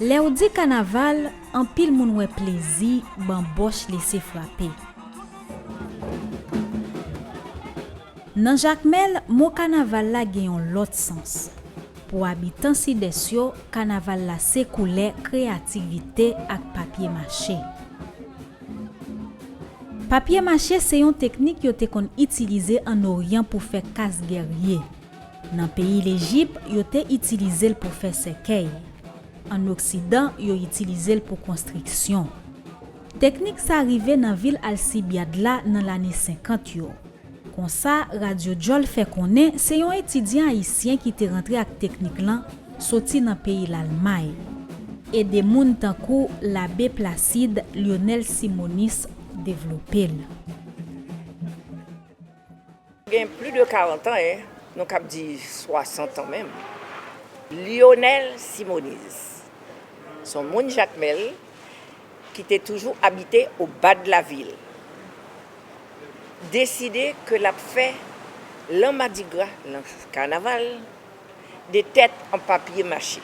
Lèw di kanaval anpil moun wè plezi banbòch lese frape. Nan Jakmèl mo kanaval la gen yon lòt sans. Pou abitan Sidès yo kanaval la se koulè kreyativite ak papye mache. Papye mache se yon teknik yo te konn itilize an Oryan pou fè kas gèrye. Nan peyi Lejip, yo te itilize l pou fè sèkèy. Ann Oksidan, yo itilize l pou konstriksyon. Teknik sa rive nan vil Alcibiade la nan lane 50 yo. Konsa, Radyo Djòl fè konnen se yon etidyan ayisyen ki te rantre ak teknik lan soti nan peyi Lalmay. Ede moun tankou Labe Placide Lyonel Simonis devlope l. Gen pli de 40 an, nou kab di 60 an menm, Lyonel Simoniz se yon moun Jakmèl ki te toujou abite o ba de la vil, deside ke l ap fè lan madigra, lan kanaval, de tèt an papye mache.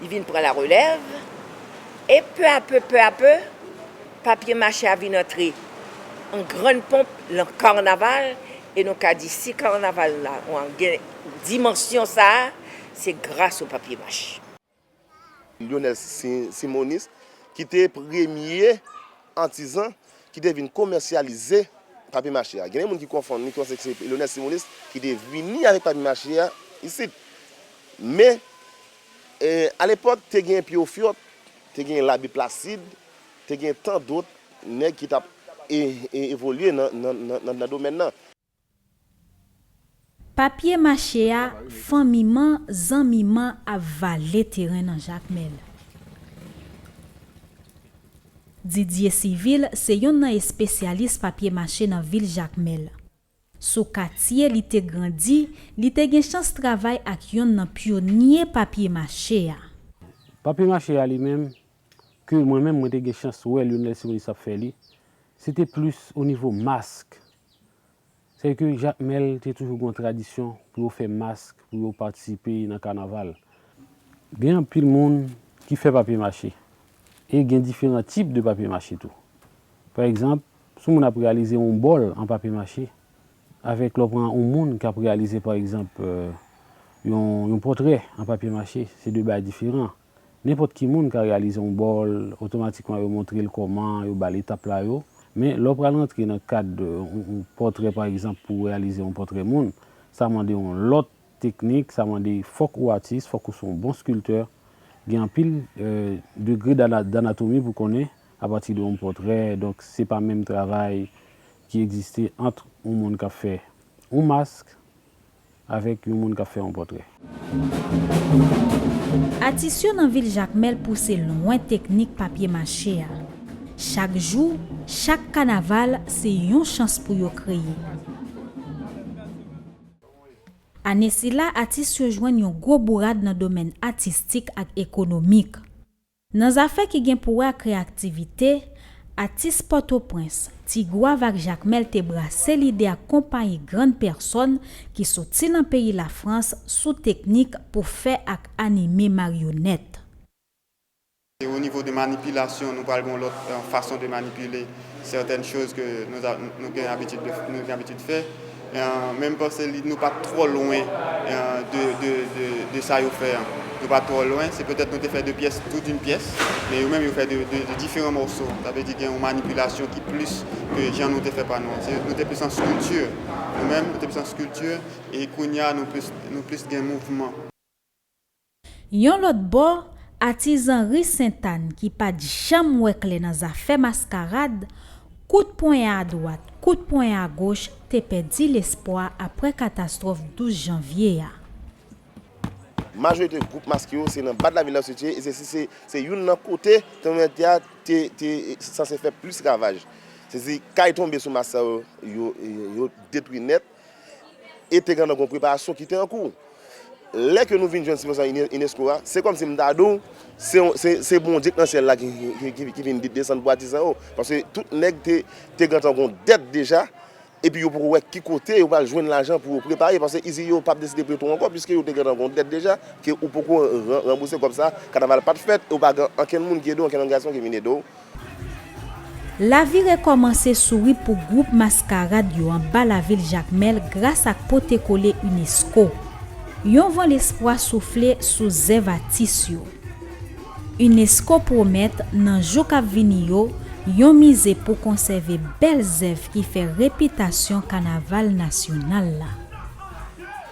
Li vin pran la relèv, e pè a pè, pè a pè, papye mache a vin antre an grann ponp lan karnaval, e nou ka di si karnaval la an gen dimansyon sa a, se gras o papye mache. Lyonel Simonis ki te premye atizan ki te vin komèsyalize papye-mache a. Genyen moun ki konfonn li panse ke se Léonel Simonis ki te vini avèk papye-mache a isit. Men, alepòk, te genyen Pye Ofyòt, te genyen Labi Plasid, te genyen tan dòt nèg ki t ap evolye nan domèn nan. Papye mache a fanmi man zanmi man ap vale teren nan jakmel. Didier Civil se yonn nan espesyalis papye mache nan vil jakmel. Sou katye li te grandi li te gen chans travay ak yonn nan pyonye papye mache a. Papye mache a li menm ke mwen menm mwen te gen chans wè Lionel Simonis ap fè li se te plis o nivo mask Se ke Jakmèl te toujou gen yon tradisyon pou yo fè mask pou yo patisipe nan kanaval. Gen anpil moun ki fè papye mache. E gen diferan tip de papye mache tou. Pa egzanp, sou moun ap reyalize yon bòl an papye mache, avèk lè w pran yon moun k ap reyalize pa egzanp yon pòtrè an papye mache, se de bagay diferan. Nenpòt ki moun ka reyalize yon bòl, otomatikman yo montre l kòman, yo ba l etap la yo. Men, lè w pral rantre nan kad yon pòtrè pa egzanp pou w reyalize yon pòtrè moun, sa mande yon lòt teknik, sa mande fòk ou atis, fòk ou se yon bon skiltè, gen anpil degre danatomi pou w konnen apati de yon pòtrè, donk se pa menm travay ki egziste ant yon moun k ap fè yon mask, Avèk yon moun k ap fè yon pòtrè. Atis yo nan vil Jakmèl pouse lwen teknik papye mache a. Chak jou, chak kanaval se yon chans pou yo kreye. Ane sila atis yo jwenn yon gwo bourad nan domèn atistik ak ekonomik. Nan zafè ki gen pou wè ak reyaktivite, atis Pòtoprens, Ti Gwav ak Jakmèl te brase lide ak konpayi grann pèsòn ki soti nan peyi Lafrans sou teknik pou fè ak anime maryonèt. Se o nivo de manipilasyon nou pral gen yon lòt fason de manipile sètèn choz ke nou gen abitid fè. Men m panse nou pa t twò lwen de sa yo fè an. Nou pa t twò lwen. Se petèt nou te fè de pyès tou doun pyès. Men yo menm yo fè de diferan mòso. Sa vle di gen yon manipilasyon ki plis ke jan nou te fè pa nou an. Nou te plis an skilti. Nou menm nou te plis an skilti e kounye a nou plis gen mouvman. Yon lòt bò, atizan ri Sentàn ki pa t janm wè klè nan zafè maskarad, kout ponyen adwat, kout ponyen agoch te pèdi lespwa aprè katastwòf 12 janvye a. Majorite gwoup maske yo se nan Bad Lavil la yo sitiye e se youn nan kote tranbleman tè a te sanse fè plis ravaj. Se di kay tonbe sou mas sa yo, yo detwi nèt. e te gen nan gwo preparasyon ki te an kou. Lè ke nou vin jwenn sibvansyon unesco a, se kòm si m ta di w, se Bondye k nan syèl la ki vin desann pou atizan yo, paske tout nèg te gentan gwo dèt deja, epi yo poko wè ki kote yo pral jwenn lajan pou yo prepare, paske izi yo pap deside pre tou ankò, piske yo te gentan gwo dèt deja, ke ou poko ranbouse kòb sa, kanaval pat fèt, e ou pa gen ankenn moun ki ede w, ankenn òganizasyon ki vin ede w. Lavi rekòmanse souri pou gwoup Maskarad yo anba lavil Jakmèl gras ak pote kole unesco. Yon van lespwa soufle sou zèv atis yo. Unesco pwomèt nan jou kap vini yo yon mize pou konsève bèl zèv ki fè repitasyon kanaval nasyonal la.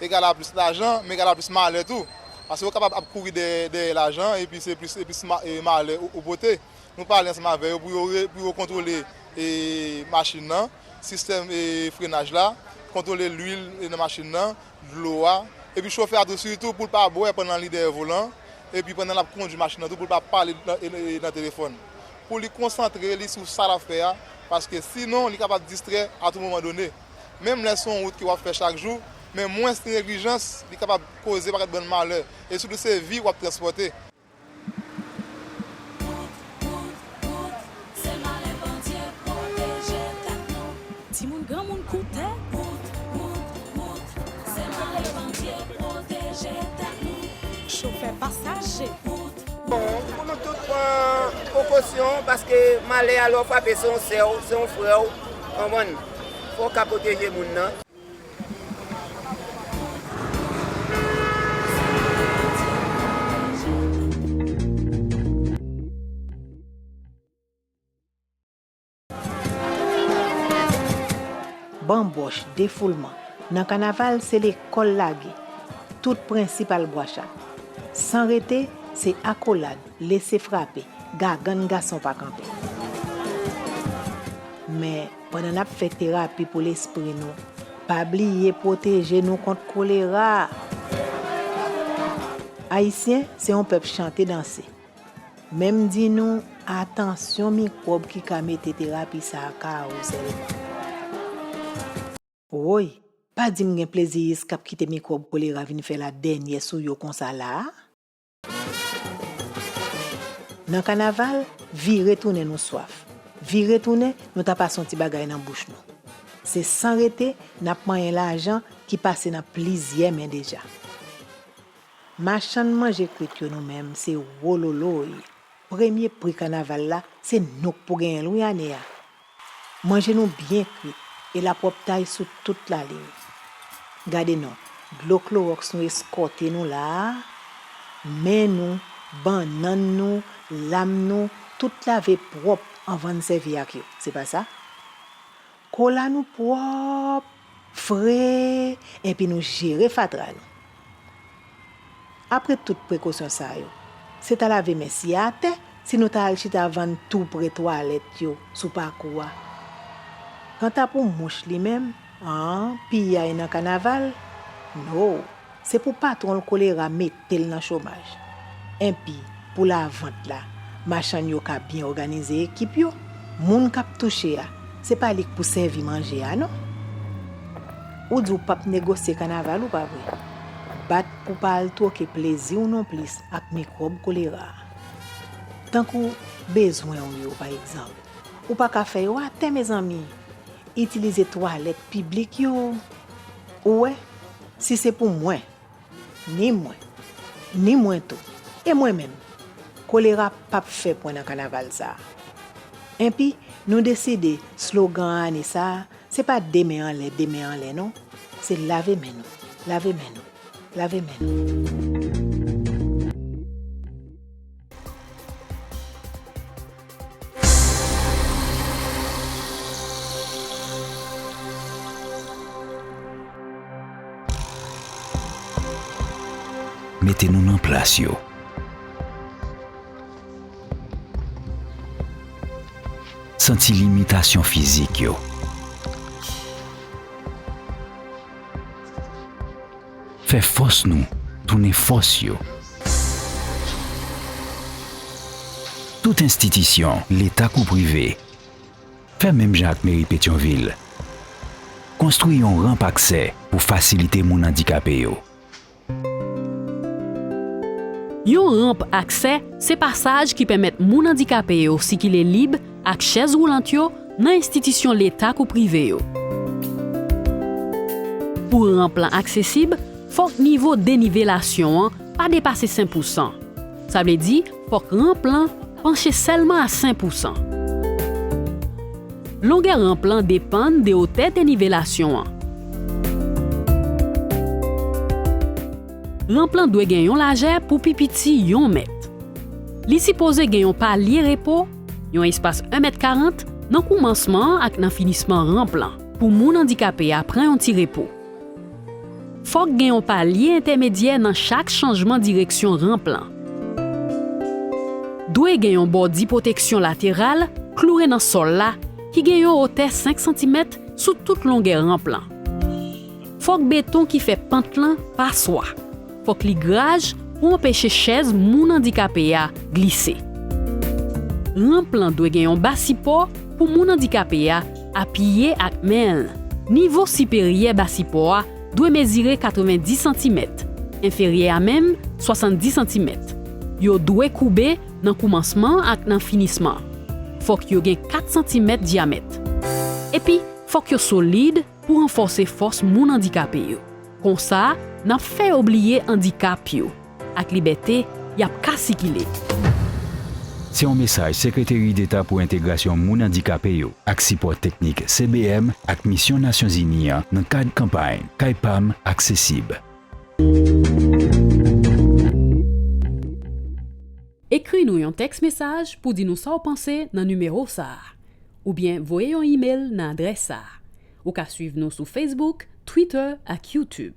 egal a plis lajan, men egal a plis malè tou. Paske ou kapab ap kouri dèyè lajan epi se plis e plis malè ou pote. Nou pale ansanm avè yo pou yo kontwole machin nan, sistèm frenaj la, kontwole lwil nan machin nan, dlo a. Epi chofè a tou sitou pou l pa bwè pandan li dèyè volan, epi pandan l ap kondwi machin nan tou pou l pa pale nan telefòn. Pou li konsantre li sou sa l ap fè a, paske sinon li kapab distrè a tou moman done. Menm lè se yon wout ke wap fè chak jou, men mwens neglijans li kapab koze yon pakèt bann malè, e sitou se vi wap transpòte. Bon, pou nou tout pran prekosyon paske malè a lè w frape se yon sè w, se yon frè w, konprann? Fò w ka pwoteje moun nan. Banbòch, defoulman, nan kanaval se lekòl lage, tout prensip al bwachat. San rete, se akolad, Lese frape, gagann gason pa kanpe. Men, pandan n ap fè terapi pou lespri nou, pa bliye pwoteje nou kont kolera! Ayisyen se yon pèp chante danse. Men m di nou, atansyon mikwòb ki ka mete terapi sa a kawouzelman. Woy! Pa di m gen pleziyis k ap kite mikwòb kolera vin fè ladènyè sou yo konsa la a? Nan kanaval, vire tounen nou swaf. Vire tounen, nou ta pase yon ti bagay nan bouch nou. Se san rete, n ap manyen lajan ki pase nan plizyè men deja. Machann manje kwit yo nou menm, se wololoy! Premye pri kanaval la, se nou k pou genyen l wi ane a! Manje nou byen kwit e lapwòptay sou tout lalin. Gade non, dlo klowòks nou eskòte nou la a, men nou, bannann nou, lam nou, tout lave pwòp anvan n sèvi ak yo, se pa sa? Kola nou pwòp Fre, enpi nou jere fatra nou. Apre tout prekosyon sa yo, se ta lave men siye atè si nou ta al chita vann tou pre twalèt yo sou pakou a. Kanta pou mouch li menm, an, piyay nan kanaval? No! Se pou patwon l kolera mete l nan chomaj. Enpi, pou lavant la, machann yo ka byen òganize ekip yo, moun k ap touche a, se pa li k pou sèvi manje a non. Ou di w pap negosye kanaval ou, pa vre? Bat pou pa al twoke plezi w nonplis ak mikwòb kolera a. Tankou bezwen w yo, pa egzanp, ou pa ka fè yo atè, mezanmi! Itilize twalèt piblik yo, ou wè. Si se pou mwen, ni mwen, ni mwen tou, e mwen menm, kolera pap fè pwen nan kanaval sa a. Enpi, nou deside slogan ane sa a, se pa de men anlè, de men anlè non, se lave men nou, lave men nou, lave men nou. Mete nou nan plas yo. Santi limitasyon fizik yo. Fè fòs nou tounen fòs yo. Tout enstitisyon, leta kou prive, fè menm jan ak Meri Petyonvil. Konstwi yon ranp aksè pou fasilite moun andikape yo. Yon ranp aksè se pasaj ki pèmèt moun andikape yo sikile lib ak chèz woulant yo nan enstitisyon leta kou prive yo. Pou ranp lan aksesib, fòk nivo denivelasyon an pa depase sen pousan. Sa vle di fòk ranp lan panche sèlman a sen pousan. Longè ranp lan depann de otè denivelasyon an. Ranp lan dwe gen yon lajè pou pi piti yon mèt. Li sipoze gen yon palye repo. Yon espas 1 mèt 40 nan koumansman an ak nan finisman ranp lan pou moun andikape a pran yon ti repo. Fòk gen yon palye entèmedyè nan chak chanjman direksyon ranp lan. Dwe gen yon bòdi pwoteksyon lateral kloure nan sòl la ki gen yon wotè 5 santimèt sou tout longè ranp lan. Fòk beton ki fè pant lan pa swa. Fòk li graj pou anpeche chèz moun andikape a glise. Ranp lan dwe gen yon ba sipò pou moun andikape a apiye ak men l. Nivo siperyè ba sipò a dwe mezire 90 santimèt, enferyè a menm 70 santimèt. Yo dwe koube nan koumansman ak nan finisman. Fòk yo gen 4 santimèt dyamèt. Epi fòk yo solid, pou ranfòse fòs moun andikape yo. Konsa, n ap fè yo bliye andikap yo ak libète y ap ka sikile. Se yon mesaj Sekreteri Deta pou Entegrasyon Moun Andikape yo ak sipò teknik CBM ak Misyon Nasyonzini an nan kad kanpay Kay pa m aksesib. Ekri nou yon tèks mesaj pou di nou sa w panse nan nimewo sa a. oubyen voye yon imel nan adrès sa a. Ou ka swiv nou sou Facebook, Twitter ak YouTube.